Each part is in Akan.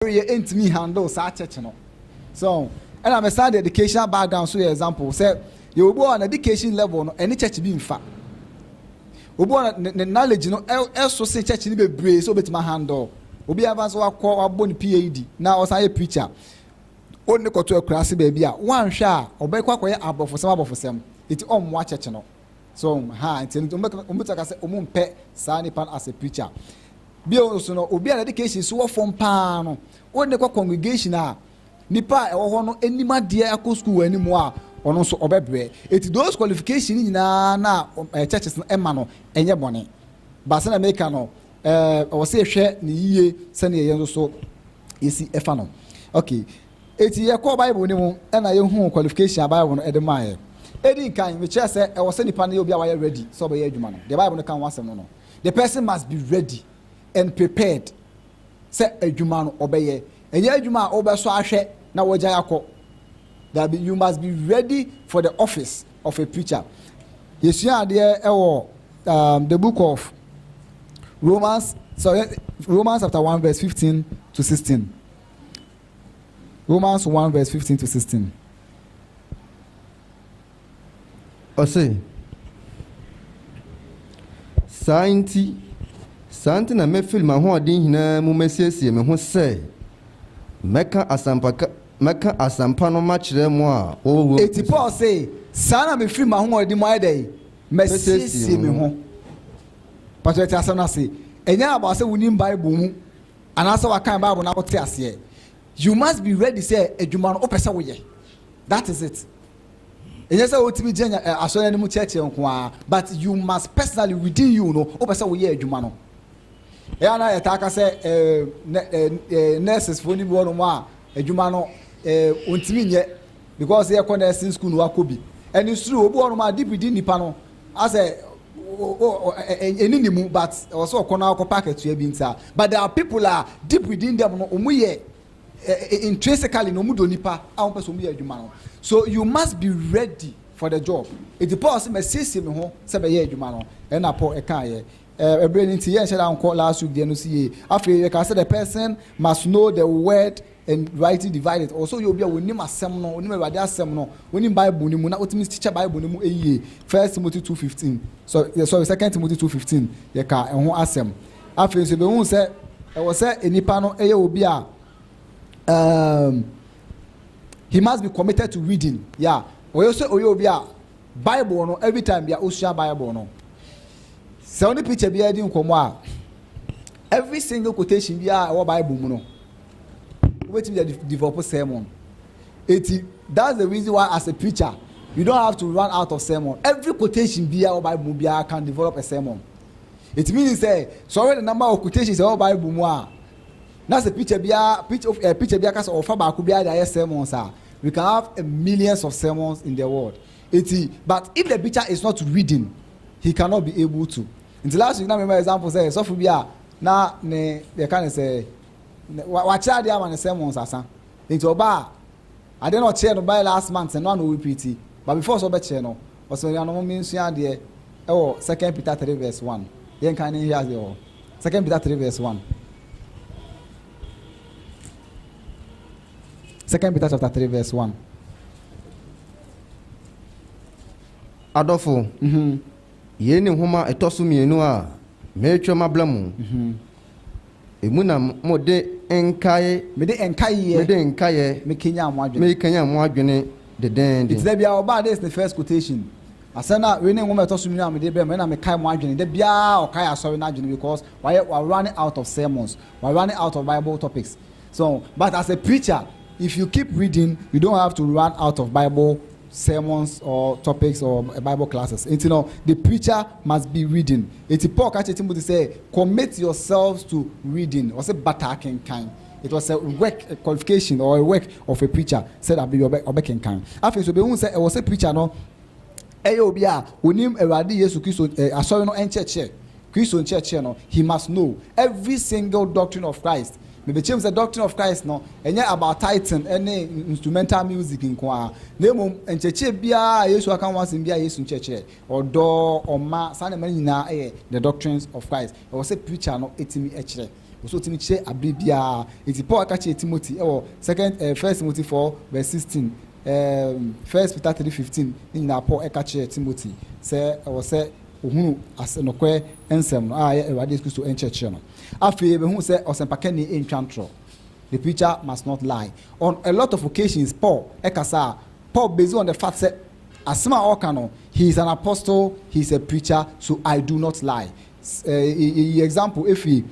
ɔreyɛ ɛntumi handle saa church no so ɛna me san de educational background so yɛ example sɛ yɛ obi wɔ na education level no ɛne church bi nfa obi wɔ na ne knowledge no ɛso se church no bebree sɛ obetuma handle obi afa so wakɔ wabɔ ne PAD na ɔsan yɛ preacher ɔnne kɔto akurase baabi a wanhwɛ a ɔbɛkɔ akɔyɛ abɔfosɛm abɔfosɛm eti ɔmmoa church no so ha nti no wɔn bɛtumi aka sɛ wɔn mpɛ saa nipa no as a preacher bio nso no obi a dedication so wɔ fam paa no wɔn ne kɔ congregation a nipa a ɛwɔ hɔ no anim adeɛ akɔ sukuu wɔ anim a ɔno nso ɔbɛbrɛ eti those qualification nyinaa na ɛɛ churches no ɛma no ɛnyɛ bɔne baasa na mɛka no ɛɛ ɔwɔ sɛ yɛhwɛ ne yie sɛnea yɛn nso so yɛsi ɛfa no okay. Enti yɛkɔɔ Bible no mu na yɛhuu qualification a Bible no de maeɛ. Ɛdi nkan, mekyerɛɛ sɛ ɛwɔ sɛ nipa no yɛ obi a wayɛ ready sɛ ɔbɛyɛ adwuma no. Deɛ Bible no ka ho asɛm no no, The person must be ready and prepared sɛ adwuma no ɔbɛyɛ. Ɛnyɛ adwuma a wobɛsɔ ahwɛ na woagyae akɔ. Daabi, you must be ready for the office of a preacher. Yɛsua adeɛ wɔ um, the book of Romans, so, Romans chapter 1 verse 15 to 16. Romans one verse fifteen to sixteen. Ɔse, Saa nti, saa nti na mɛfiri m'ahoɔden nyinaa mu masiesie me ho sɛ mɛka asɛmpa ka, mɛka asɛmpa no makyerɛ mo a wɔwɔ Roma. Enti Paul se, Saa na mefiri m'ahoɔden mu ayɛ dɛn? Masiesie me ho. Mpakyɛ yɛte asɛm no ase. Ɛnyɛ abaa sɛ wonim Bible mu. anaasɛ wakan bible na wote aseɛ you must be ready sɛ adwuma no wopɛ sɛ woyɛ that is it ɛnyɛ sɛ wotumi gyina eh, asɔre anim kyerɛkyerɛ nko ara but you must personally within you no wopɛ sɛ woyɛ adwuma no ɛyɛ na yɛtaa ka sɛ eh, eh, eh, nurses foɔ no bi wɔnom a adwuma no ɔntumi nyɛ because yɛkɔ nursing school no wakɔ bi ɛne suru obi wɔnom a deep di nnipa no Asɛ ɛni ne mu but ɛwɔ sɛ ɔkɔ na ɔkɔ pa akatua bi nti a but there are people a deep within them no ɔmu yɛ intrinsically na ɔmu dɔ nipa a ɔmu pɛ sɛ ɔmu yɛ adwuma no so you must be ready for the job eti Paul sɛ mɛ siesie me ho sɛ bɛ yɛ adwuma no ɛna Paul ɛka yɛ ɛbrɛ ne nti yɛ nhyɛ da nkɔ last week deɛ no si yie afei yɛ ka sɛ the person must know the word And rightly divide it, ɔwɔ sɛ ɔyɛ obi a ɔnim asɛm no, ɔnim Awurade asɛm no, ɔnim Bible no mu na ɔtumi kyekyɛ Bible no mu yie. First Timothy two fifteen, sorry, sorry, Second Timothy two fifteen, yɛkaa ɛho asɛm. Afei nso yɛbɛhu sɛ ɛwɔ sɛ nipa no yɛ obi a um, he must be committed to reading. Yeah, ɔyɛ sɛ ɔyɛ obi a Bible no every time bia ɔsua Bible no. Sɛ ɔne picture biara di nkɔmmɔ a, every single quotation biara ɛwɔ Bible mu no, wobɛtumi de develop sermon eti that's the reason why as a preacher you don't have to run out of sermon every quotation bia wɔ bible mu biara can develop a sermon it means sɛ sɔre ne namba wɔ quotations ɛwɔ bible mu a na sɛ preacher bia preacher eh, preacher bia kasa ɔfa baako bia de ayɛ sermons a we can have a millions of sermons in the world eti but if the preacher is not reading he cannot be able to nti last week na mema example sɛ sɔfo bi a na ne yɛka ne sɛ Na wakyerɛ adeɛ ama no sɛ monsasa. Nti ɔba a, adeɛ na ɔkyerɛ no bae last month no a na ɔrepeati. But before sɛ ɔbɛkyerɛ no, ɔsɛ anuanom mensua adeɛ ɛwɔ second Peter three verse one. Yɛnkan ne nhwɛ adeɛ wɔ second Peter three verse one. Second Peter chapter three verse one. Adɔfo, yei ne nhoma ɛtɔ so mmienu a meretwerɛ mabla mu. Emu na mode nkae. Mede nkaeɛ. Mede nkaeɛ. Mekanyan mo adwene. Mekanyan mo adwene dendeenden. Nti da biara ɔbaa this is the first quotation. Asɛm no a wei ne nwoma a ɛtɔ so mmienu a mede brɛ mo. Ɛna mekae mo adwene. Da biara ɔkae asɔre no adwene because wayɛ wa running out of sermons. Wa running out of Bible topics. So but as a preacher if you keep reading you don't have to run out of Bible sermons or topics or bible classes nti no the preacher must be reading nti Paul ka kyerɛ Timothy sɛ commit yourselves to reading ɔsɛ bata akenkan it was a work a qualification or a work of a preacher sɛ da bere bi ɔbɛkenkan afei nso ɔbɛhu sɛ ɛwɔ sɛ preacher no ɛyɛ obi a onim Awurade Yesu Kristo asɔre no nkyerɛkyerɛ Kristo nkyerɛkyerɛ no, he must know every single doctrine of Christ. Mebekyerɛ mu sɛ doctrine of Christ no, ɛnyɛ about tithing ne instrumental music nko ara, na mmom nkyerɛkyerɛ biara a Yesu aka ho asɛm biara yɛ Yesu nkyerɛkyerɛ. Ɔdɔ, ɔma, saa nneɛma no nyinaa yɛ the doctrines of Christ. Ɛwɔ sɛ preacher no tumi kyerɛ. Ɛwɔ sɛ ɔtumi kyerɛ bere biara. Enti Paul ka kyerɛɛ Timothy wɔ second, eh, First Timothy 4 verse 16, eh, First Peter 3:15 ne nyinaa Paul ka kyerɛɛ Timothy sɛ ɛwɔ sɛ Wɔhunu ase nokorɛ nsɛm no a ɛyɛ Awurade Yesu Kristo nkyerɛkyerɛ no. Afei yɛbɛhunu sɛ ɔsɛmpakani ntwa ntorɔ, the preacher must not lie. On a lot of occasions Paul kasa a, Paul base on the fact sɛ asɛm a ɔreka no, he is an apostle, he is a preacher, so I do not lie. Yɛyi example ɛfiri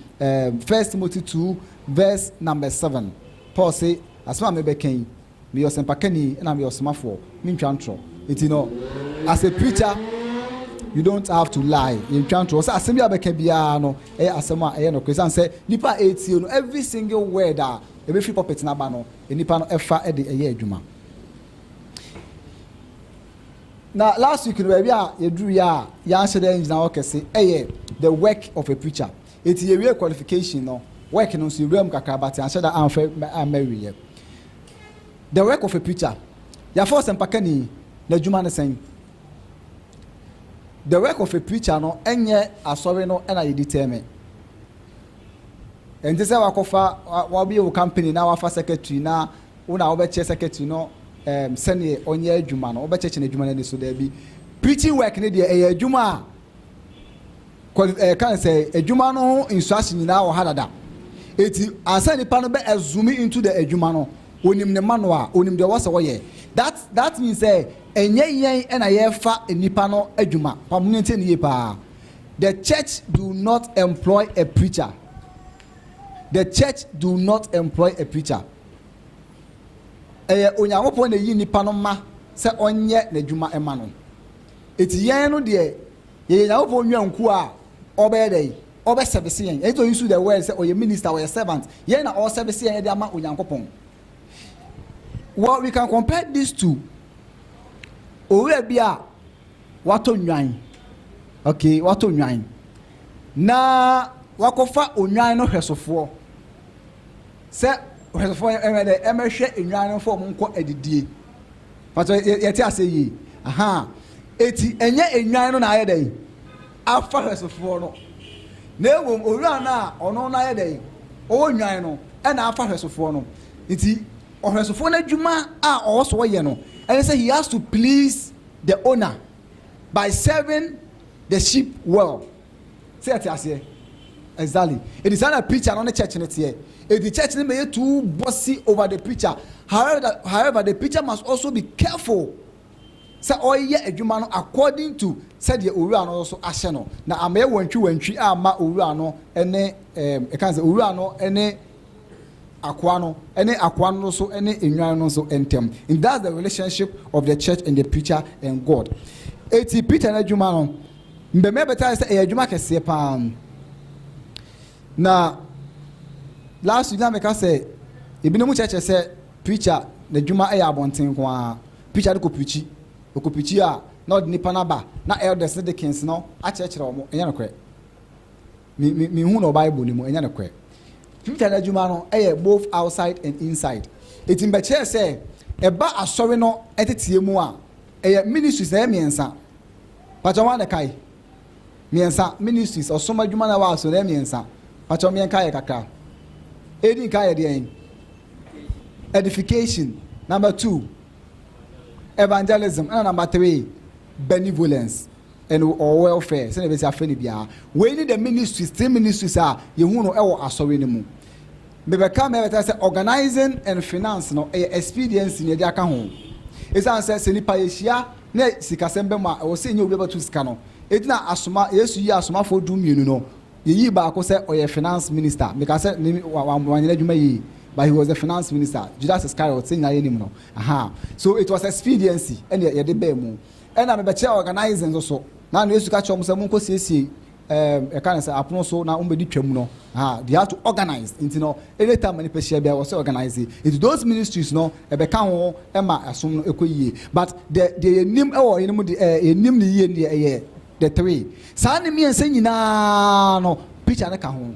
First Timothy two verse number seven. Paul se, asɛm a mebɛka yi, Meyɛ ɔsɛmpakani na meyɛ ɔsomafoɔ, mentwa ntorɔ. Nti no, as a preacher, you don't have to lie, yɛntwa ntorɔ. Ɔsɛ asɛm bi a bɛka biara no, ɛyɛ asɛm a ɛyɛ nokorɛ. Ɛsiane sɛ nnipa a ɛretie no, every single word a ɛbɛfiri pulpit no aba no, nnipa no fa de ɛyɛ adwuma. Na last week no, baabi a yɛduruiɛ a yɛanhyɛ da angyina hɔ kɛse yɛ the work of a preacher. Enti yɛwiee qualification no, work no nso yɛwuraa mu kakra but yɛanhyɛ da anhwɛ amma awieɛ. The work of a preacher, yɛafrɛ ɔsɛmpakani, n'adwuma ne sɛn? The work of a preacher no ɛnyɛ asɔre no na yɛdi tɛɛme. Ɛnte sɛ wakɔfa, wabie wo company na wafa secretary na wo na wobɛkyerɛ secretary no um, sɛdeɛ ɔnyɛ adwuma no, wobɛkyerɛkyerɛ no adwuma no ani so, daabi. Preaching work no deɛ ɛyɛ adwuma a Kɔn eh, kan sɛ adwuma no ho nsuase nyinaa wɔ ha dada. Enti ansa nipa no bɛ assume into the adwuma no, onim ne manual, onim deɛ wɔsɛ wɔyɛ. That that means sɛ ɛnyɛ yɛn ɛna yɛfa nipa no adwuma. Pa mo ntie ne yie paa. The church do not employ a preacher. The church do not employ a preacher. Ɛyɛ Onyankopɔn na eyi nipa no ma sɛ ɔnyɛ n'adwuma ɛma no. Eti yɛn no deɛ Yɛyɛ Nyankopɔn nnwankuo a ɔbɛyɛ dɛn? Ɔbɛsɛvese yɛn. Ɛnti ɔuse the word sɛ ɔyɛ minister, ɔyɛ servant. Yɛn na ɔresɛvese yɛn de ama Onyankopɔn. Well, we can compare this to owura bi a watɔ nnwan. Okay, watɔ nnwan. Na wakɔfa onnwan no hwɛsofoɔ. Sɛ hwɛsofoɔ ɛmɛ dɛ ɛmɛhwɛ nnwan no fɔ ɔmo nkɔ adidie. Pastor yɛ yɛ te ase yie ahaa eti ɛnyɛ enwan no na ayɛ dɛn afa hwɛsofoɔ no na ɛwom owura no a ɔno no ayɛ dɛn ɔwɔ nwan no ɛna afa hwɛsofoɔ no nti ɔhwɛsofoɔ no adwuma a ɔwɔ so ɔyɛ no ɛne sɛ he has to please the owner by serving the sheep well. Sɛ yɛte aseɛ? Exactly. Eti saa na preacher no ne church no teɛ. Eti church no bɛyɛ too bossy over the preacher. However, however, the preacher must also be careful sɛ ɔyɛ adwuma no according to sɛdeɛ owura no nso ahyɛ no na amɛyɛ wantwi wantwi ama owura no ne ɛɛm ɛka sɛ owura no ne akoa no ne akoa no nso ne enwan no nso ntɛm. And that's the relationship of the church and the preacher and God. Eti preacher n'adwuma no. Mbɛmba bɛtaa sɛ ɛyɛ adwuma kɛseɛ paa na last week na meka sɛ ebinom kyerɛkyerɛ sɛ preacher n'adwuma yɛ abɔnten nko ara preacher no kɔ preachi ɔkɔ preachi a na ɔde nipa no aba na elders ne deacons no akyerɛkyerɛ wɔn ɛnyɛ nokorɛ me me me hu no bible no mu ɛnyɛ nokorɛ preacher n'adwuma no yɛ both outside and inside eti mbɛkyerɛ sɛ ɛba asɔre no ɛteteɛ mu a ɛyɛ ministries na ɛyɛ mmiɛnsa. Pakyɛ wan na ɛkae? Mmiɛnsa, ministries, ɔsom adwuma na ɛwɔ aso na ɛyɛ mmiɛnsa. Pakyɛ mmiɛn kaeɛ kakra. Edi nka yɛ deɛn? Edification. Number two, evangelism. Ɛna number three, benevolence and or welfare. Sɛnea ɛbɛsi afɛ no biara. Wei ne the ministries, three ministries a yɛhu no ɛwɔ asɔre no mu. Mebɛka mɛ bɛta sɛ organizing and finance no ɛyɛ expediency na ɛde aka ho. Ɛsiane sɛ sɛ nipa yɛhyia na sikasɛm ba mu a, ɛwɔ sɛ yenya obi a ɔbɛto sika no. Egyina asoma, Yesu yii asomafoɔ dummienu no, yeyii baako sɛ ɔyɛ finance minister. Mekaa sɛ ne, wa, wa, wanyɛ n'adwuma yie, but he was the finance minister. Judas Iscariot, sɛ nyinaa yɛnim no. Ahaa. So it was expediency ɛna yɛde baa mu. Ɛna mebɛkyerɛɛ organizing nso so. Na, na Yesu ka kyerɛ wɔn sɛ, Monkɔsiesie um yɛka no sɛ apono so na wɔn bɛdi twam no ha they have to organize nti no anytime ma nipa hyia bia wɔ sɛ organize nti those ministries no ɛbɛka ho ɛma ɛsom no ɛkɔ yie but the deɛ yɛnim ɛwɔ yɛn mu de ɛɛ yɛnim ne yie deɛ ɛyɛ the three saa ne mmiɛnsa nyinaa no picture no ka ho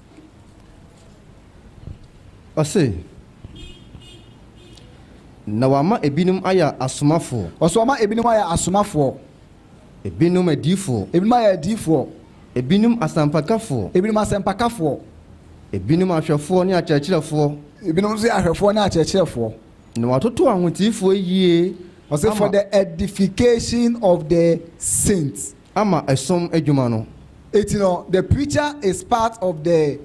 Ɔse, Na wama ebinom ayɛ asomafoɔ. Ɔse, Wama ebinom ayɛ asomafoɔ. Ebinom adiyifoɔ. Ebinom ayɛ adiyifoɔ. Ebinom asɛmpakafoɔ. Ebinom asɛmpakafoɔ. Ebinom ahwɛfoɔ ne akyerɛkyerɛfoɔ. Ebinom nso yɛ ahwɛfoɔ ne akyerɛkyerɛfoɔ. Na watoto ahoteefoɔ ayie ama. Ɔse, For the edification of the saints. ama som adwuma no. Enti no, the preacher is part of the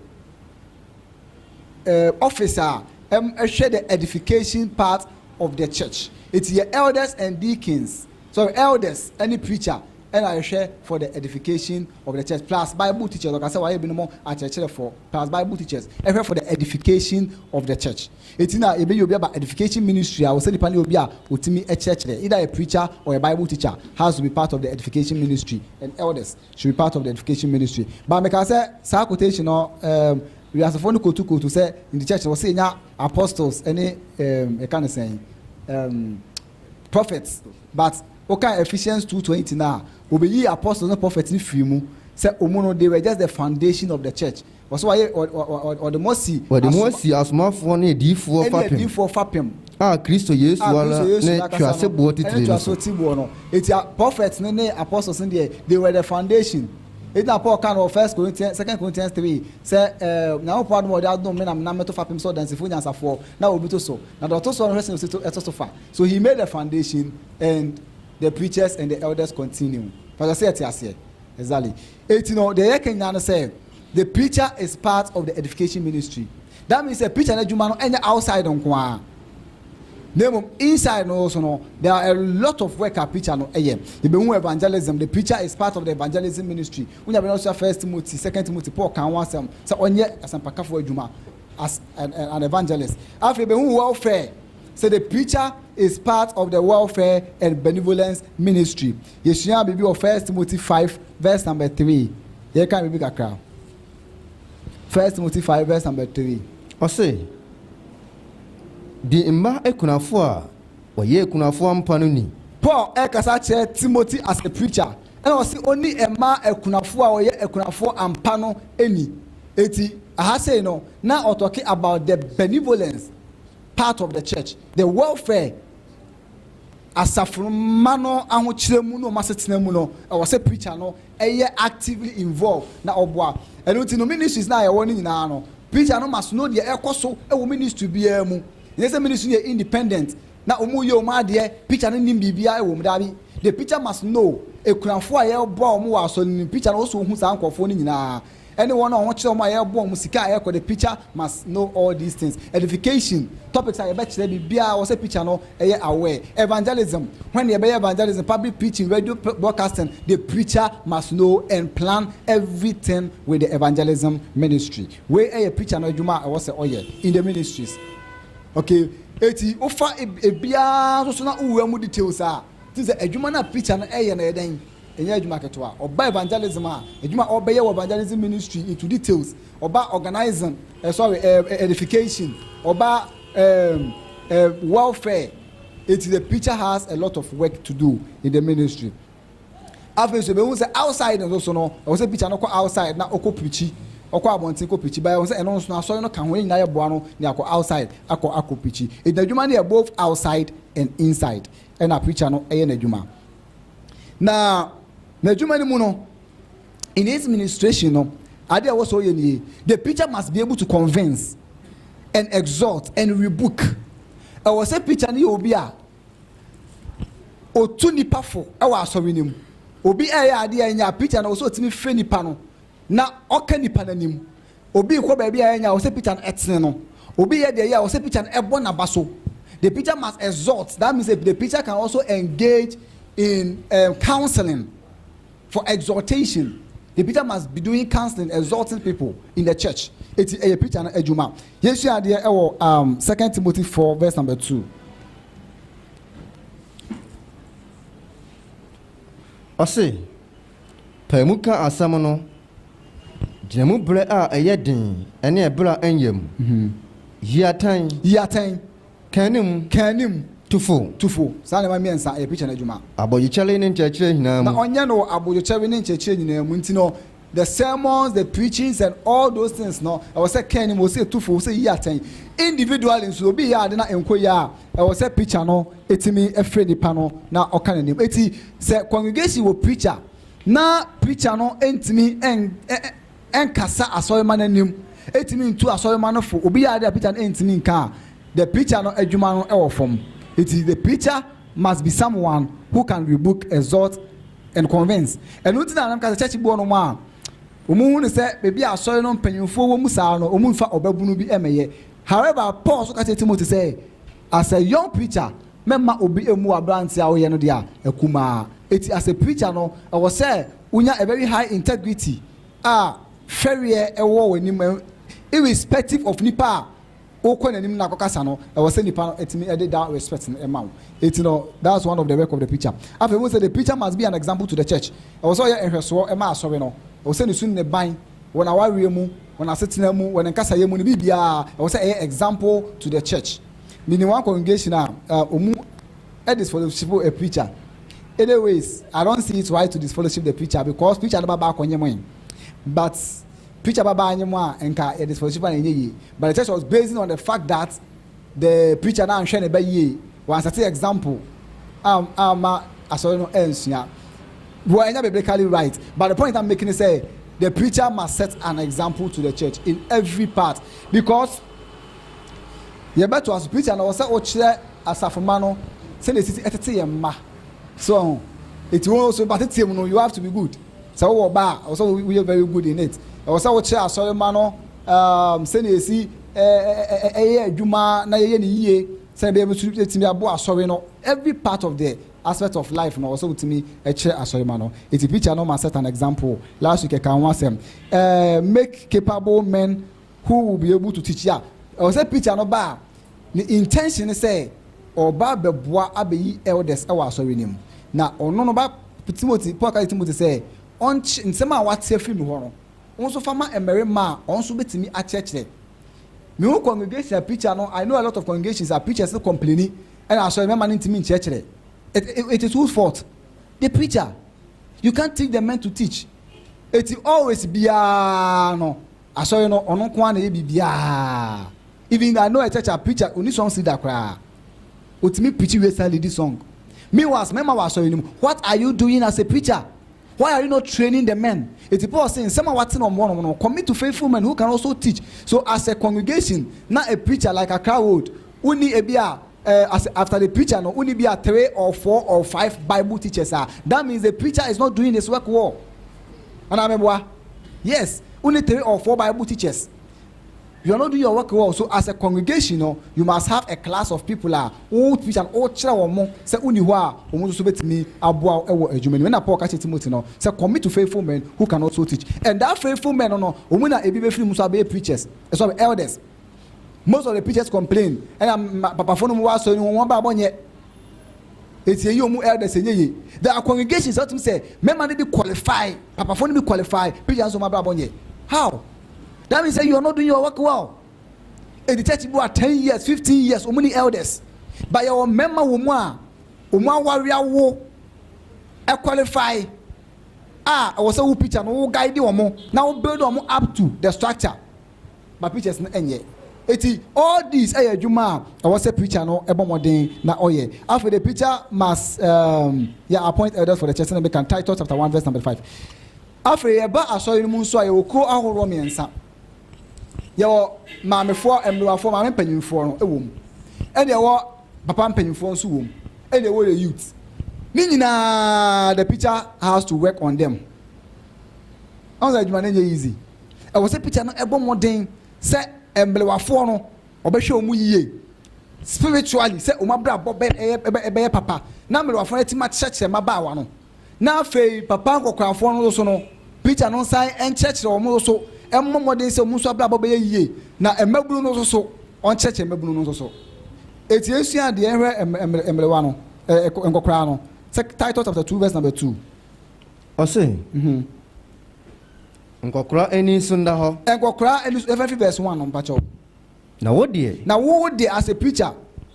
eh, office a ɛhwɛ the edification part of the church. Enti yɛ elders and deacons, sorry, elders ne preacher ɛna ɛhwɛ for the edification of the church, plus Bible teachers, ɔka sɛ wayɛ binom akyerɛkyerɛfoɔ, plus Bible teachers ɛhwɛ for the edification of the church. Eti na yɛbɛyi obi aba edification ministry a ɔsɛ nipa ne obi a ɔtumi kyerɛkyerɛ, either a preacher or a bible teacher has to be part of the edification ministry and elders should be part of the edification ministry but mekaa sɛ saa quotation no um, wiasefoɔ no kotu kotu sɛ in the church no wɔsɛ yɛnya apostles ne um, yɛka ne sɛn um, prophets but woka Ephesians 2:20 no a wɔbɛyi apostles ne prophets no firi mu sɛ ɔmu no they were just the foundation of the church Wɔsi wɔ ayɛ wɔ wɔ wɔ wɔde mo asi. Wɔde mo asi asomafoɔ ne adiyifoɔ fapem. Ɛne adiyifoɔ fapem. A Kristo Yesu ara ne tweaseboɔ titire no so. Ɛne tweaseboɔ titire no. Eti a prophets no ne apostles no deɛ they were the foundation. Eti na Paul kaa no wɔ first Corinthians second Corinthians three sɛ ɛɛ Nyankopɔn adom a ɔde adom me na menam me to fapem sɛ ɔdansifoɔ nyansafoɔ na obi to so na deɛ ɔto soɔ no hwɛ sɛnea osi to ɛto so fa. So he made the foundation and the preachers and the elders continue. Pakyɛ sɛ yɛte aseɛ? Exactly. Eti no deɛ yɛka nyinaa no sɛ the preacher is part of the edification ministry. That means sɛ preacher n'adwuma no ɛnyɛ outside nko ara. Na mmom inside no so no there are a lot of work a preacher no ɛyɛ. Yɛbɛhu evangelism, the preacher is part of the evangelism ministry. Wonya bɛn ɔsua First Timothy, Second Timothy, Paul kan ho asɛm sɛ ɔnyɛ asɛmpakafo adwuma as an, an evangelist. Afei yɛbɛhu welfare sɛ the preacher is part of the welfare and benevolence ministry. Yɛsuaa biribi wɔ First Timothy five verse number three. Yɛka biribi kakra. First Timothy five verse number three. Ɔse, Di mma akunafoɔ a wɔyɛ akunafoɔ ampa no ni. Paul ɛrekasa akyerɛ Timothy as a preacher, ɛna ɔse ɔni mma akunafoɔ a wɔyɛ akunafoɔ ampa no ni. Enti aha sei no, na ɔtɔke about the benevolence part of the church, the welfare. asafo no mma no ahokyerɛ mu ne wɔn asetena mu no, ɛwɔ sɛ preacher no yɛ actively involved na ɔboa. Ɛno nti no, ministries no a yɛwɔ no nyinaa no, preacher no must know deɛ ɛrekɔ so wɔ ministry biara mu. Ɛnyɛ sɛ ministry no yɛ independent na wɔreyɛ wɔn adeɛ, preacher no nnim biribiara wɔ mu. Daabi. The preacher must know akunafoɔ a yɛboa wɔn wɔ asɔre no mu. Preacher no wɔ sɛ ɔhu saa nkurɔfoɔ no nyinaa ɛne wɔn a wɔkyerɛ wɔn a yɛreboa wɔn sika a ɛkɔ the preacher must know all these things edification topics a yɛbɛkyerɛ biribiara wɔ sɛ preacher no ɛyɛ aware evangelism when yɛbɛyɛ evangelism public preaching radio broadcasting the preacher must know and plan everything with the evangelism ministry wei ɛyɛ preacher no adwuma a ɛwɔ sɛ ɔyɛ in the ministries okay eti wofa ebiara nso so na wowura mu details a ti sɛ adwuma no a preacher no ɛyɛ no ɛyɛ dɛn. Ɛnyɛ adwuma ketewa. Ɔba evangelism a, adwuma a ɔbɛyɛ wɔ evangelism ministry into details, ɔba organising, eh, sorry, eh, eh, edification, ɔba um, eh, welfare. It is the preacher has a lot of work to do in the ministry. afei nso ebehu sɛ outside nso so no ɛwɔ sɛ preacher no kɔ outside na ɔkɔ preachi ɔkɔ abɔnten kɔ preachi bɛyɛ wɔn sɛ ɛno nso asɔre no ka ho ne nyinaa yɛ boa no ne akɔ outside akɔ akɔ preachi ɛdina adwuma no yɛ both outside and inside ɛna preacher no ɛyɛ n'adwuma. Na n'adwuma no mu no, in his ministration no, ade a ɛwɔ sɛ ɔyɛ nie, the preacher must be able to convince and exhort and rebuke. Ɛwɔ sɛ preacher no yɛ obi a ɔtu nipa fo wɔ asɔre no mu. Obi ɛyɛ adeɛ a ɛnyɛ a preacher no wɔ sɛ ɔtumi frɛ nipa no na ɔka nipa no anim Obi rekɔ baabi a anya a, ɔsɛ pikya no tene no. Obi reyɛ deɛ ɛyɛ a, ɔsɛ pikya no bɔ n'aba so. The pikya must exhort, that means the pikya can also engage in um, counseling for exhortation. The pikya must be doing counseling, exhorting people in the church. Eti ɛyɛ pikya no adwuma. Yɛsua adeɛ ɛwɔ um, 2 Timothy 4 verse number 2. Ɔse, pae mu ka asɛm no Gyina mu berɛ a ɛyɛ den ne ɛberɛ a ɛnyɛ mu. Yi atɛn. Yi atɛn. Ka anim. Ka anim. Tu fo. Tu fo. Saa nneɛma mmiɛnsa yɛ preacher no adwuma. Abodwokyɛre ne nkyerɛkyerɛ nyinaa mu. Na ɔnyɛ no wɔ abodwokyɛre ne nkyerɛkyerɛ nyinaa mu nti no the sermons, the preachings and all those things no ɛwɔ sɛ ka anim, ɛwɔ sɛ tu fo, ɛwɔ sɛ yi atɛn. Individually nso obi yɛ ade na ɛnkɔ yie a ɛwɔ sɛ preacher no tumi frɛ nipa no na ɔka n'anim. Enti sɛ congregation wɔ preacher Ná preacher no ntumi nkasa asɔremma no anim, ntumi ntu asɔremma no fo. Obi yɛ ade a preacher no ntumi nka a, the preacher no adwuma no wɔ fam. Enti the preacher must be someone who can rebuke, exhort and convince. Ɛno nti na na meka sɛ church bi wɔ nom a, wɔhu no sɛ baabi a asɔre no mpanyimfoɔ wɔ mu saa no, wɔmfa ɔbabunu bi mmɛyɛ. However, Paul nso ka kyerɛɛ Timothy sɛ, as a young preacher, Mɛma obi mmu w'aberanteɛ a woyɛ no deɛ a akumaa. Eti as a preacher no ɛwɔ sɛ wonya a very high integrity a fɛreɛ ɛwɔ w'anim irrespective of nipa a wokɔ n'anim no akɔkasa no ɛwɔ sɛ nipa no ɛtumi ɛde that respect no ɛma wo eti no that's one of the work of the preacher. Afei wohu sɛ the preacher must be an example to the church ɛwɔ sɛ ɔyɛ nhwɛsoɔ ɛma asɔre no ɛwɔ sɛ ne su ne ne ban wɔ n'awareɛ mu wɔ n'asetena mu wɔ ne nkasayɛ mu ne biribiara ɛwɔ sɛ ɛyɛ example to the church. Me nim one congregation a uh, omu disfellowship a preacher. Anyways, I don't see it right to disfellowship the preacher because preacher no baba akɔnye mo But preacher baba anye mo a nka yɛ disfellowship a ɛnyɛ yie. But the church was basing on the fact that the preacher na anhwɛ ne ba yie. Wansɛte example ama ah, ah, asɔre no ansua. Well, ɛnyɛ biblically right. But the point I'm making is say the preacher must set an example to the church in every part because Yɛbɛtoa so. Peter na ɔwɔ sɛ ɔkyerɛ asafo mma no sɛdeɛ ɛsɛ sɛ ɛtete yɛn mma. So ɔho? Eti wɔn nso ba teteɛ mu no, you have to be good. Sɛ wowɔ ɔba a, ɛwɔ sɛ woyɛ very good in it. Ɛwɔ sɛ wokyerɛ asɔre mma no um, sɛdeɛ ɛsi ɛyɛ adwuma na yɛyɛ ne yie sɛdeɛ ɛbɛyɛ bɛso ɛtumi aboa asɔre no. Every part of the aspect of life no ɛwɔ sɛ wotumi kyerɛ asɔre mma no. Eti Peter no ma set an example. Last week ɛka ho asɛm. Uh, make capable men Who will be able to teach yeah ɛwɔ sɛ preacher no ba a ne intention ne sɛ ɔba bɛboa abɛyi elders ɛwɔ asɔre no mu na ɔno no ba Timothy Paul ka kyerɛ Timothy sɛ ɔnkyɛ nsɛm a wate afiri me hɔ no wo nso fa ma mmarima a wɔn nso bɛtumi akyerɛkyerɛ me ho congregation a preacher no I know a lot of congregations a preachers no complaini ɛna asɔre mɛma no ntumi nkyerɛkyerɛ it, it, it is whose fault the preacher you can't teach the men to teach eti always biara no Asɔre no ɔno nko ara na ɛyɛ biribiara even though I know a church a preacher ɔnni songs leader koraa ɔtumi preachi wie san leadi song meanwhile mmarima wɔ asɔre no mu what are you doing as a preacher why are you not training the men enti Paul se nsɛm a wate na ɔmmoa wɔn no commit to faithful men who can also teach so as a congregation na a preacher like Accra Road wonni ebi a eh, as after the preacher no wonni bi a three or four or five Bible teachers a that means the preacher is not doing his work well. Anaa meboa? Yes, wo ne three or four Bible teachers. You are not doing your work well. So as a congregation no, you must have a class of people a wotumi hyia no, wokyerɛ wɔn mo sɛ wonni hɔ a, wɔn nso so betumi aboa wo wɔ adwuma no mu. Ɛna Paul ka kyerɛ Timothy no sɛ, Commit to faithful men who can also teach. And that faithful men no no, wɔn na ebi befiri mu nso abɛyɛ preachers, eh, sorry, elders. Most of the preachers complain, ɛna ma- papafoɔ no mu wɔ asɔre no mu, wɔn abrabɔ nyɛ Eti eyi ɔmo elders enye ye. There are congregations a wotumi sɛ mɛma no bi qualify, papafoɔ no bi qualify, preachers nso ɔmo abrabɔ nyɛ. How? That means sɛ you are not doing your work well. Eti church bi wɔ a ten years, fifteen years ɔmo ni elders. But yɛwɔ mmɛma wɔ mu a ɔmo aware awo, ɛ qualify a ɛwɔ sɛ wo preacher no wo guide ɔmo na wo build ɔmo up to the structure. ma preachers no nyɛ. Eti all these ɛyɛ adwuma a ɛwɔ sɛ preacher no ɛbɔ mmɔden na ɔyɛ. Afei the preacher must um, yeah, appoint elders for the church, sɛnea meka no, Titus chapter one verse number five. Afei yɛba asɔre no mu nso a yɛwɔ kuo ahoroɔ mmiɛnsa. Yɛwɔ maamefoɔ, mmerewafoɔ, maame mpanyinfoɔ no ɛwɔ mu. Ɛna yɛwɔ papa mpanyinfoɔ nso wɔ mu. Ɛna yɛwɔ the youth. Ne nyinaa the preacher has to work on them. Ɔn sɛ adwuma no nyɛ easy. Ɛwɔ sɛ pikya no bɔ mmɔden sɛ mberewafoɔ no wɔbɛhwɛ wɔn yie spiritually sɛ wɔn abrabɔ bɛyɛ bɛyɛ papa na mberewafoɔ no atumi akyerɛkyerɛ mmabaawa no na afei papa nkɔkorafoɔ no nso no pikya no nsan nkyerɛkyerɛ wɔn nso mmɔ mmɔden sɛ wɔn nso abrabɔ bɛyɛ yie na mmabunu no nso so ɔnkyerɛkyerɛ mmabunu no nso so eti esua deɛ ɛhwɛ mberewa no ɛɛ nkɔkoraa no sɛ Titus chapter two verse number two. Ɔse. Mm-hmm. Nkɔkora ani so nda hɔ. Nkɔkora ani so, yɛfa fi verse one no mpakyɛw. Na wo deɛ. Na wo deɛ as a preacher.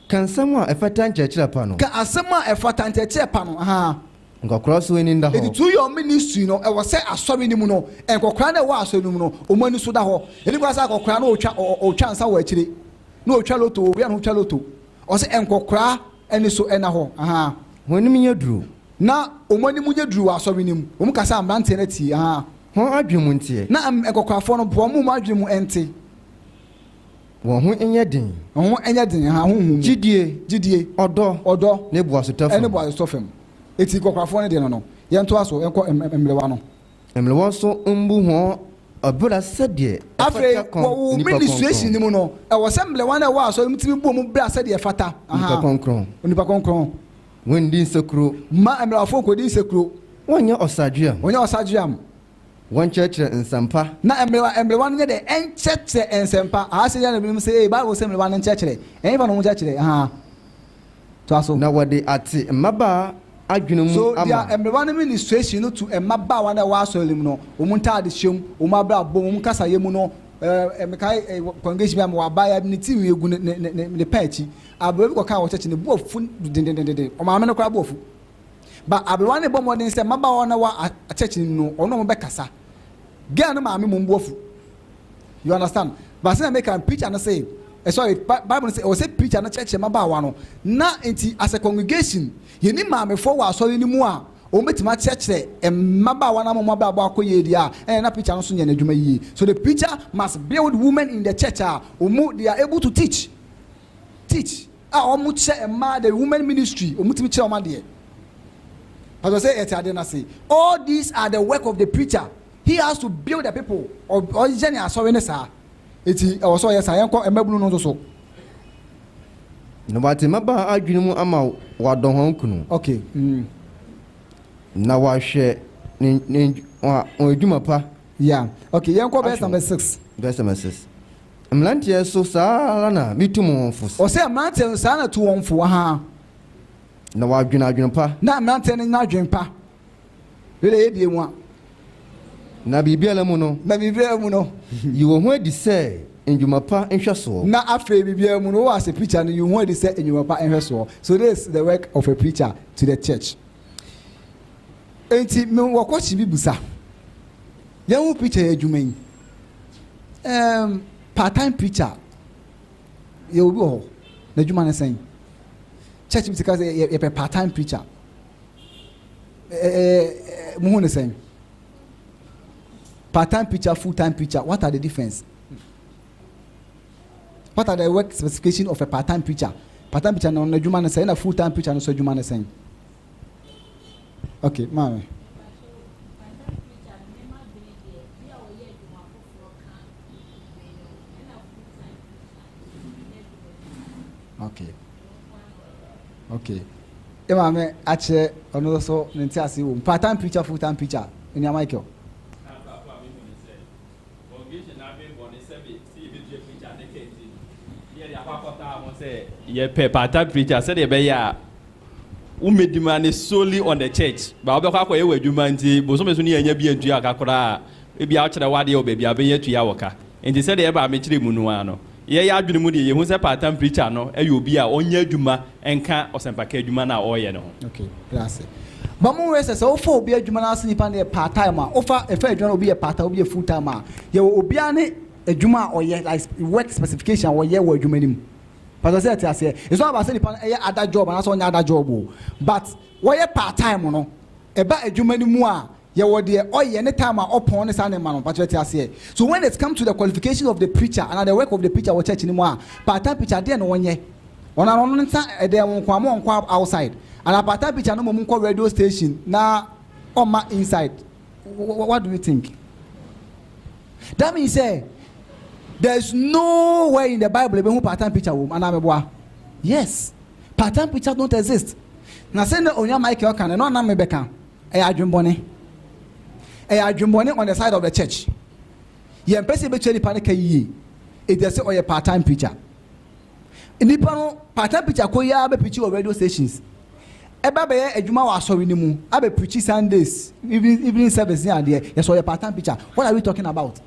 Ka nsɛm a ɛfata nkyerɛkyerɛ pa no. Ka asɛm a ɛfata nkyerɛkyerɛ pa no ahaa. Nkɔkora so ani nda hɔ. Eti through your ministry no ɛwɔ sɛ asɔre no mu no nkɔkora no a ɛwɔ asɔre no mu no wɔn ani so da hɔ. Ɛni kwan sɛ akɔkora no ɔtwa ɔtwa nsa wɔ akyire, na ɔtwa loto ɔwia ne ho twa loto. Ɔsɛ nkɔkora Ɛno so ɛna hɔ ahaa. Hɔn anim nyɛ duru. Na wɔn anim nyɛ duru wɔ asɔre no mu. Wɔn kasa a mmeranteɛ no atie ahaa. Hɔn adwene mu nteɛ. Na nkɔkorafoɔ no boa wɔn mu adwene mu nte. Wɔn ho nyɛ den. Wɔn ho nyɛ den ahaa honhom mu. Gyidie. Gyidie. Ɔdɔ. Ɔdɔ. Ne boasetɔ fam. Ne boasetɔ fam. Eti nkɔkorafoɔ no deɛ no no. Yɛntoa so nkɔ mmerewa no. Mma wɔn so mmbu hɔn ɔbra sɛdeɛ Afei, ɛfata kɔn wɔ wo nnipa ministration no krɔnkrɔn. mu no, ɛwɔ sɛ mblɛwa no a ɛwɔ asɔre mu tumi bɔ mu bra sɛdeɛ ɛfata. Nnipa Ahaa. krɔnkrɔn. Onipa krɔnkrɔn. Wɔndi nsekuro. Mma mmarawafoɔ nkɔdi nsekuro. Wɔnyɛ ɔsadweam. Wɔnyɛ ɔsadweam. Wɔnkyerɛkyerɛ nsɛmpa. Na mblɛwa mblɛwa no nyɛ dɛ ɛnkyerɛkyerɛ nsɛmpa. Ahaa, sɛ yɛn na binom se, ee, Bible se mblɛwa no nkyerɛkyerɛ. Ɛhefa na wɔnkyerɛkyerɛ? Ahaa. Toa so. Na wɔde ate mmabaa adwene mu So ama. deɛ mmerewa no ministration no to mmabaawa no a ɛwɔ asɔre no mu no, wɔn ntaade hyɛ mu, wɔn abrabɔ mu, wɔn kasayɛ mu no, eh, mekae eh, wɔ congregation bi a mewɔ abaayewa bi ne ti nwi gu ne, ne, ne, ne, ne paa akyi. Aberewa bi kɔkaa wɔ church, ne bo afu dendendenden. Wɔn maame no koraa bo afu. Ba aberewa no rebɔ mmɔden sɛ mmabaawa no a ɛwɔ a- church no mu no, ɔne wɔn bɛkasa. Girl no maame mmom bo afu. you understand baasi na meka preacher no say eh, sorry bible no say ɔwɔ sɛ preacher no kyerɛkyerɛ mmabaawa no na nti as a congregation yɛni maamefoɔ wɔ asɔre no mu a wɔn bɛtumi akyerɛkyerɛ mmabaawa no ama wɔn abrabɔ akɔ yie deɛ a ɛna na preacher no nso nyɛ n'adwuma yie so the preacher must build women in the church a wɔn they are able to teach teach a wɔn kyerɛ mmaa the women ministry wɔn tumi kyerɛ wɔn adeɛ pastor sɛ yɛte adeɛ no ase all these are the work of the preacher. He has to build the people, ɔyɛ ne asɔre no saa, enti ɛwɔ sɛ ɔyɛ saa. Yɛnkɔ mmabunu no nso so. Na wate mmabaa adwene mu ama wɔadɔ wɔn kunu. Okay. Mm. Na wɔahwɛ ne ne wɔn adwuma pa. Yeah. Okay, yɛnkɔ verse number six. Verse number six. Mmeranteɛ so saa ara na mitu mo wɔn fo. Ɔsɛ mmeranteɛ no saa na tu wɔn fo. Aha. Na wɔadwene adwene pa. Na mmeranteɛ no nyɛ adwene pa. Wei na ɛyɛ nwa. Na biribiara mu no. Na biribiara mu no. Yi wo ho adi sɛ nnwuma pa nhwɛsoɔ. Na afei biribiara mu no, wo as a preacher no, yi wo ho adi sɛ nnwuma pa nhwɛsoɔ. So this is the work of a preacher to the church. Enti me wɔ kɔkye bi busa. Yɛn ho preacher yɛ adwuma yi. Um, part time preacher. Yɛ obi wɔ hɔ. N'adwuma ne sɛn? Church bi ti ka sɛ yɛpɛ part time preacher. Eh, muhu ne sɛn? Part time preacher, full time preacher, what are the difference? What are the work specification of a part time preacher? Part time preacher no na adwuma ne sɛn na full time preacher no so adwuma ne sɛn? Okay, maame. okay okay ẹ maame akyerɛ ɔno nso ne nti ase wɔ mu part time preacher full time preacher ẹni Michael. yɛpɛ part time preacher sɛdeɛ ɛbɛyɛ a womɛdi ma ne solely on the church ba wobɛkɔ akɔyɛ wɔ adwuma nti bosome so ne yɛnya bi antua ka koraa ebi a wokyerɛ wadeɛ wɔ baabi a wobɛnya tua wɔ ka Enti sɛdeɛ ɛbaa me kyerɛ mu no ara no, yɛyɛ adwene mu deɛ yɛhu sɛ part-time preacher no yɛ obi a ɔnyɛ adwuma nka ɔsɛmpaka adwuma no a ɔreyɛ no ho. Ok, bra ase. Bɔ mmɔden sɛ sɛ wofa obi adwuma no ara sɛ nipa no yɛ part-time a, wofa, yɛfa adwuma no obi yɛ part-time, obi yɛ full-time a, yɛwɔ obiara ne adwuma a ɔyɛ, like sp, work specification a ɔyɛ wɔ adwuma no mu. Mpatwɔ sɛ yɛte aseɛ? It's not about sɛ nipa no yɛ other job anaasɛ ɔnyɛ other job o, but wɔyɛ part-time no, ɛba adwuma no mu a, Yɛwɔ deɛ ɔyɛ ne time a ɔpɔn ne saa nneɛma no mpakyɛ wate aseɛ? So when it comes to the qualification of the preacher anaa the work of the preacher wɔ church no mu a part time preacher adeɛn na ɔnyɛ? Ɔno ara ɔno nsa ɛdɛn wo nko a ma ɔnkɔ outside anaa part time preacher no mmom nkɔ radio station na ɔmma inside what do you think? That means sɛ there is no where in the bible ɛbɛhu part time preacher wɔ mu anaa meboa? Yes part time preachers don't exist na sɛ na onua Michael ka no ɛno anam mebɛka Ɛyɛ adwemmɔne. Ɛyɛ adwemmɔne on the side of the church. Yɛmpɛ sɛ yɛbɛtua nipa no ka yie. It's just sɛ ɔyɛ part time preacher. Nipa no part time preacher kɔ yi ara bɛ preachi wɔ radio stations. Ɛba bɛyɛ adwuma wɔ asɔre no mu. Abɛ preachi Sundays, evening, evening service ne adeɛ. Yɛsɛ ɔyɛ part time preacher. What are we talking about?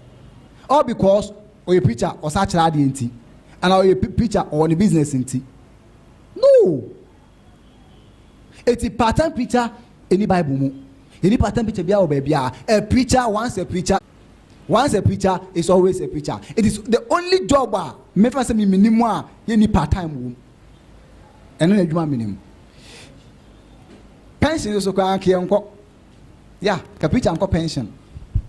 All because ɔyɛ preacher ɔsa kyerɛ adeɛ nti. Anaa ɔyɛ preacher ɔwɔ ne business nti. No! Eti paatan preacher ɛni bible mu. Yɛni paatan preacher biara wɔ baabiara. A preacher once a preacher once a preacher is always a preacher. It is the only job a mefa sɛ me menim a yɛni part time wɔ mu. Ɛno na adwuma menim. Pension so koraa nka yɛnkɔ. Yeah ka preacher nkɔ pension.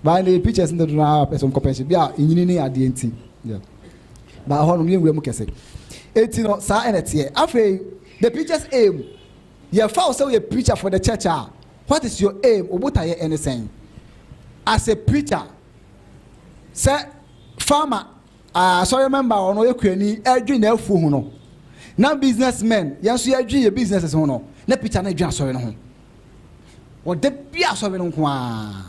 Baa ne preachers no dodo no ara pɛ sɛ nkɔ pension. Bi a enyini ne adeɛ nti. Yeah. Baa hɔ no yɛ nwura mu kɛse. Eti no saa ɛna teɛ. Afei the preacher's aim. Yɛ fa wo sɛ woyɛ preacher for the church a what is your aim? Wo botaeɛ ɛne sɛn? As a preacher sɛ farmer asɔre ah, member ɔno yɛ kurani ɛdwi na afuo ho no na business men yɛn nso yɛdwi yɛ businesses ho no na preacher no ɛdwi asɔre no ho. Ɔda biara asɔre no nko ara.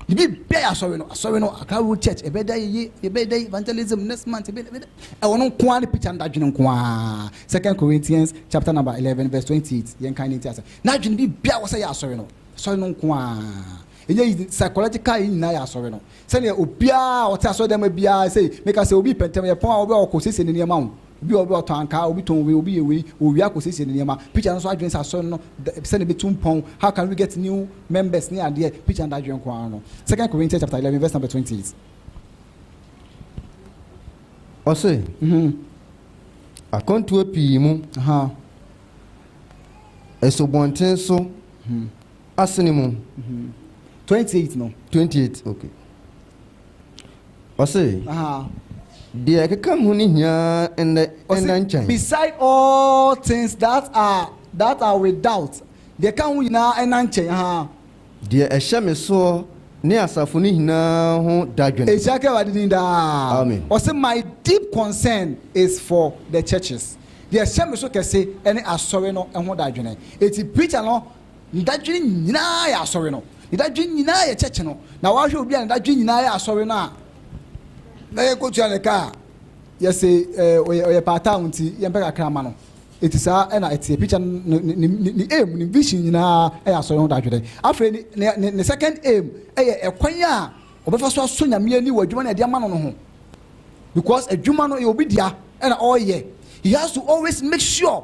Ne biribiara yɛ asɔre no, asɔre no, Accra Road Church, ɛbɛyɛ dɛ yɛyɛ, ɛbɛyɛ dɛ evangelism next month, ɛbɛyɛ dɛ, ɛwɔ no nko ara ne picture no da adwene nko ara. Second Corinthians chapter number eleven verse twenty eight, yɛn kan ne nti asɛ, n'adwene biribiara wɔ sɛ yɛ asɔre no, asɔre no nko ara. Ɛnyɛ psychological yɛ nyinaa yɛ asɔre no, Sɛnea obiara a ɔte asɔredan mu biara sei, meka sɛ, obi repɛ ntɛm, ɛyɛ pɔn a obi a ɔkɔsiesie ne nneɛma o, obi wɔ hɔ a ɔtɔn ankaa, obi tɔn wei, obi yɛ wei, ɔrewia akɔsiesie ne nneɛma. Preacher no nso adwene sɛ asɔre no da sɛnea ɛbɛtu mpɔn, how can we get new members ne adeɛ, preacher no adwene nko ara no. Second Corinthians chapter eleven verse number twenty eight. Ɔse, Akwantuo pii mu, asubɔnten so, Asene mu. Twenty eight no. Twenty eight okay. Ɔse. Deɛ ɛkeka ho ne hia ɛnɛ ɛnɛ nkyɛn. Beside all things that are that are without deɛ ɛka ho nyinaa ɛna nkyɛn ha. Deɛ ɛhyɛ me soɔ ne asafo no nyinaa ho dadwene. Ehyia ka Awurade din daa. Amen. Ɔse my deep concern is for the churches. Deɛ ɛhyɛ me so kɛse ɛne asɔre no ɛho dadwene. Eti preacher no. Ne dadwen nyinaa yɛ asɔre no. Ne dadwen nyinaa yɛ kyɛkye no. Na wahwɛ obi a ne dadwen nyinaa yɛ asɔre no a, na yɛkɔtua ne ka a, yɛse ɔyɛ ɔyɛ paataa wo nti yɛmpɛ kakra ma no. Eti saa ɛna ɛteɛ. Preacher no ne ne ne ne aim, ne vision nyinaa ɛyɛ asɔre ho dadwene. Afei ne ne ne ne second aim ɛyɛ ɛkwan a ɔbɛfa so asɔ Nyame ani wɔ adwuma no a yɛde ama no no ho. Because adwuma no ɛyɛ obi dea ɛna ɔreyɛ. He has to always make sure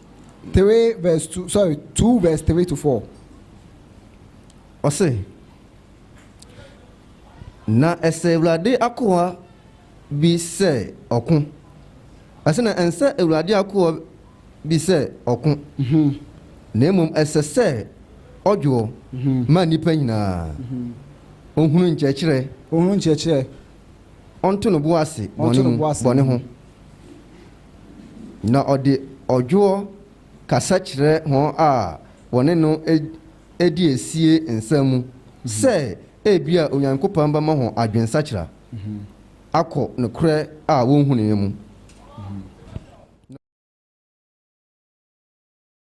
Three verse two sorry two verse three to four. Ɔse, Na ɛsɛ Awurade akoa bi sɛ ɔko. Ɔse, Na ɛnsɛ Awurade akoa bi sɛ ɔko, na mmom ɛsɛ sɛ ɔdwoɔ ma nnipa nyinaa, ɔhunu nkyerɛkyerɛ, ɔnto ne bo ase bɔne ho. Na ɔde ɔdwoɔ kasa kyerɛ wɔn a wɔne no di asie nsɛm mu sɛ ebia Onyankopɔn bɛma wɔn adwensakyera akɔ nokorɛ a wɔnhunuiɛ mu.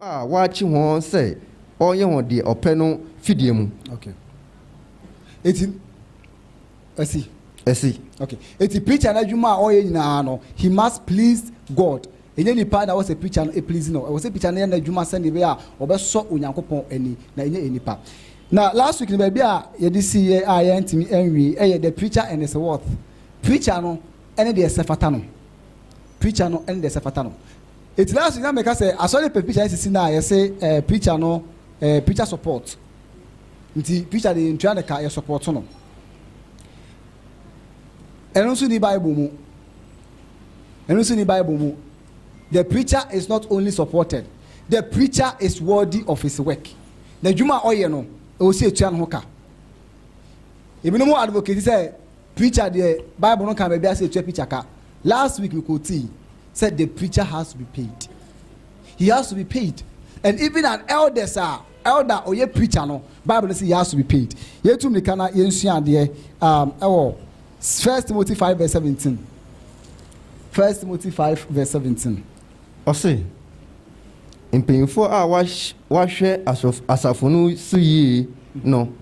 a wɔakye hɔn sɛ wɔnyɛ hɔn deɛ ɔpɛ no fidie mu. Okay. Eti, ɛsi. Ɛsi. Okay. Eti preacher no adwuma a ɔyɛ nyinaa no, he must please God. Ɛnyɛ nipa na ɛwɔ sɛ preacher no please no. Ɛwɔ sɛ preacher no yɛ n'adwuma sɛnea ɛbɛyɛ a ɔbɛsɔ Onyankopɔn ani, na ɛnyɛ nnipa. Na last week no baabi a yɛde siiɛ a yɛantumi anwie ɛyɛ the preacher and his worth. Preacher no ne deɛ ɛsɛ fata no. Preacher no ne deɛ ɛsɛ fata no. Eti last week na meka sɛ asɔre pɛ preacher asisi no a yɛse eh preacher no eh preacher support nti preacher deɛ yɛntua no ka yɛ support no ɛno nso ni bible mu ɛno nso ni bible mu the preacher is not only supported the preacher is worthy of his work na adwuma a ɔyɛ no ɛwɔ sɛ yɛtua no ho ka ebinom advocate sɛ Preacher deɛ bible no kaa baabi a sɛ yɛtua preacher ka. Last week me quotee sɛ the preacher has to be paid. He has to be paid and even an elders a elder a ɔyɛ preacher no bible no se he has to be paid. Yɛtu mmirika na yɛnsua adeɛ um, ɛwɔ First Timothy five verse seventeen. First Timothy five verse seventeen. Ɔse, mpanyimfoɔ a wɔahwɛ asafo no so yie no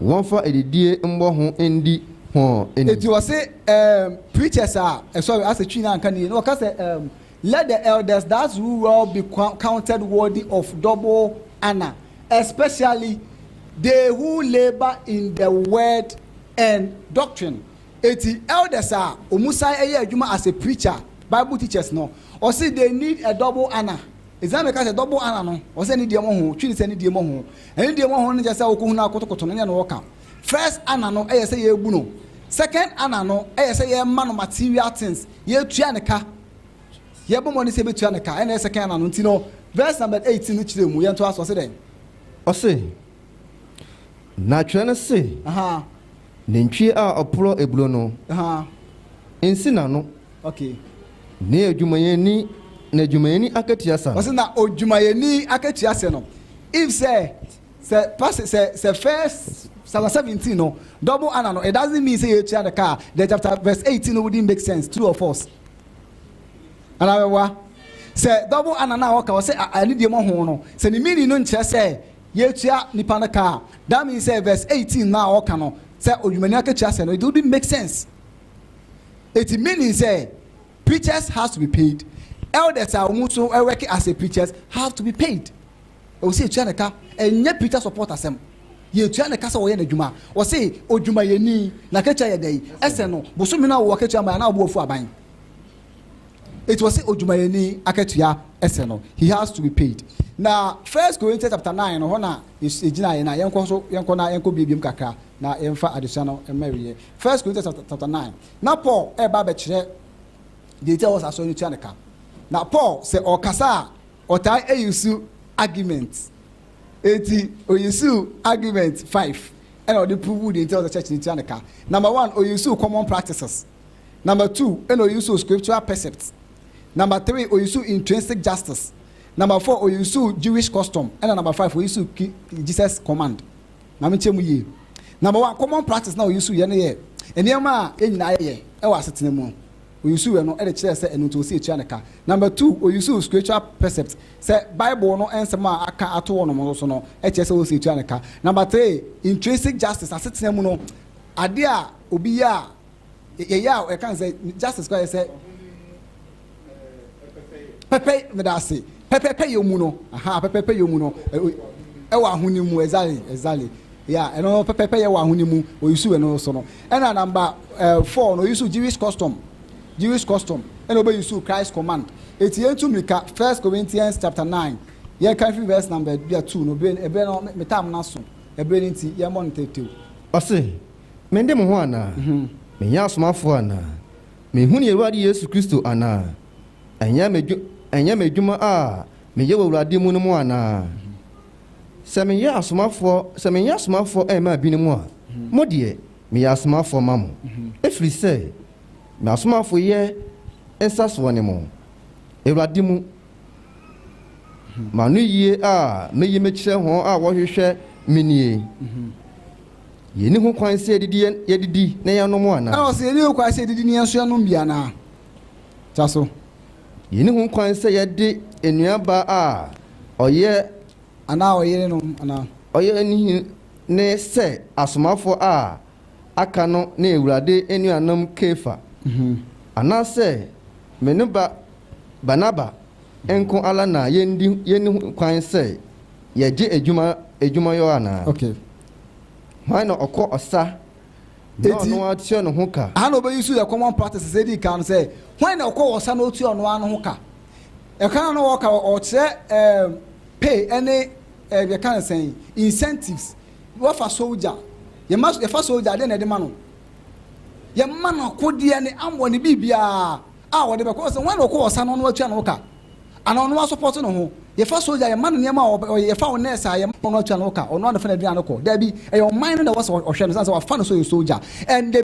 wɔnfa adidie mmɔ ho ndi hɔn anim. Eti ɔse ehm preachers a ɛsɔre asɛ twi na anka ne yie na ɔka sɛ ehm let the elders that rule well be counted worthy of double honour especially they who labour in the word and doctrine eti elders a ɔmo san ɛyɛ adwuma as a preacher bible teachers no ɔse they need a double honour eti na meka sɛ double honour no ɔsɛ ne die mmɔ ho twi ne sɛ ne die mmɔ ho Ɛno deɛ wɔho no kyerɛ sɛ wokɔ hunu akotokoto no nyɛ no ɔka. First Anna no ɛyɛ sɛ yɛbu no. Second Anna no ɛyɛ sɛ yɛma no material things. Yɛtua ne ka. Yɛbɔ mmɔden sɛ yɛbɛtua ne ka. Ɛna ɛyɛ second Anna no. Nti no verse number 18 no kyerɛ mu. Yɛntoa so. Ɔse dɛn? Ɔse, Na twerɛ no se, Aha. Nantwie a ɔporɔ aburo no, Aha. nsi n'ano. Okay. Ne adwumayɛni na adwumayɛni akatua sa no. Ɔsɛ na odwumayɛni akatua sɛ no. If sɛ sɛ pass sɛ sɛ first chapter seventeen no double ana no it doesn't mean sɛ yɛtua no kaa the chapter verse eighteen no wouldn't make sense true or false. Ana bɛboa sɛ double ana na ɔka ɔsɛ ɛne deɛ mo ho no sɛ ne meaning no nkyerɛ sɛ yɛtua nipa no kaa that means sɛ verse eighteen na ɔka no sɛ odwumayɛni akatua sɛ no it wouldn't make sense. Eti meaning sɛ preachers has to be paid, elders a wɔn nso work as a preachers have to be paid. Ɛwɔ sɛ yɛtua ne ka, ɛnyɛ preacher support asɛm. Yɛtua ne ka sɛ wɔyɛ n'adwuma. Wɔse odwumayɛni na katua yɛ dɛn? Ɛsɛ no bosome no a wɔwɔ katua ma anaa wɔbɔ wafu aban. Eti wɔse odwumayɛni akatua ɛsɛ no. He has to be paid. Na First Corinthians chapter 9 no hɔ na yɛgyinaeɛ na yɛnkɔ so yɛnkɔ na yɛnkɔ biebiam kakra na yɛmfa adesua no mma awieɛ. First Corinthians chapter chapter nine. Na Paul ɛreba abɛkyerɛ deɛ nti a wɔn asɔre no tua ne ka. Na Paul sɛ ɔkasa a ɔtaa eyi su argument. Eti oyi su argument five ɛna ɔde prove deɛ nti a wɔn church no tua ne ka. Number one oyi su common practices. Number two ɛna oyi su scriptural percept. Number three oyi su intrinsic justice. Number four oyi su Jewish custom ɛna number five oyi su Jesus command. Ma menkyɛ mu yie. Number one, common practice na ɔyusuuiɛ no yɛ nneɛma a yɛn nyinaa yɛyɛ wɔ asetena mu. Ɔyusuuiɛ no de kyerɛɛ sɛ ɛno nti ɔsɛ yɛtua no ka. Number two, ɔyusuu spiritual precept sɛ Bible no nsɛm a aka ato hɔnom no so no kyerɛ sɛ ɔsɛ yɛtua no ka. Number three, intrinsic justice, asetena mu no adeɛ a obi yɛ a yɛyɛ a ɛka sɛ justice kora yɛ sɛ pɛpɛ meda ase pɛpɛpɛ yɛ mu no aha pɛpɛpɛ yɛ mu no ɛwɔ ahoni mu exactly exactly ya ɛno pɛpɛpɛ yɛ wɔ ahoni mu oyisu ɛno so no ɛna namba ɛɛ four no oyisu jewish custom jewish custom ɛna obeyisu christ command eti yɛn tu mirika first corinthians chapter nine yɛn kan fi verse number bia two no ebire ebire no metam na so ebire ne ti yɛn mɔ no tɛtɛw. ɔsi. Mende mo ho anaa? Menyɛ asomafoɔ anaa? Menhunu yɛn Awurade Yesu Kristo anaa? Ɛnyɛ me dwo, ɛnyɛ me adwuma a meyɛ wɔ Awurade mu no mu anaa? Sɛ meyɛ asomafoɔ, sɛ menyɛ asomafoɔ mmaa binom a, mo deɛ, meyɛ asomafoɔ ma mo, ɛfiri sɛ m'asomafoyɛ nsasoɔ ne mo, Awurade mu, m'anoyie a mɛyi mekyerɛ wɔn a wɔhwehwɛ me nie. Yenni ho kwan sɛ yɛdidi yɛn yɛdidi na yɛanom anaa? Ɛna ɔse yenni ho kwan sɛ yɛdidi na yɛn nso yɛanom bi anaa? Toa so. Yenni ho kwan sɛ yɛde enuaba a ɔyɛ. Anaa ɔyere nom anaa? Ɔyɛ anihini ne sɛ asomafoɔ a aka no ne Awurade anuanom Kefa, anaa sɛ me ne ba, Barnaba, nko ara na yɛndi yɛnni ho kwan sɛ yɛgye adwuma adwumayɔ anaa? Okay. Hwan na ɔkɔ ɔsa na Eti, ɔno ara tua ne ho ka? Aha na obeyi so yɛ common practices a edi kan no sɛ, hwan na ɔkɔ ɔsa na otua ɔno ara ne ho ka? Ɛka no a na ɔka no, ɔkyerɛ ɛɛm pay ne ɛɛm yɛka no sɛn, incentives. Wɔfa soldier, yɛma so yɛfa soldier a, dɛn na yɛde ma no? Yɛma no akodeɛ ne ammɔ ne biribiara a ɔde bɛkɔ. Ɔsɛ hwan na ɔkɔ ɔsa na ɔno ara tua ne ho ka? Anaa ɔno asɔpɔte no ho. Yɛfa sogya a, yɛma no nneɛma a ɔyɛ. Yɛfa wo nɛɛse a, yɛma no atua no wo ka. Ɔno ara na ɔfa n'aduan no kɔ. Dabi, ɛyɛ ɔman no na ɛwɔ sɛ ɔhwɛ no, ɛsiane sɛ wɔafa no sɛ ɔyɛ sogya. And.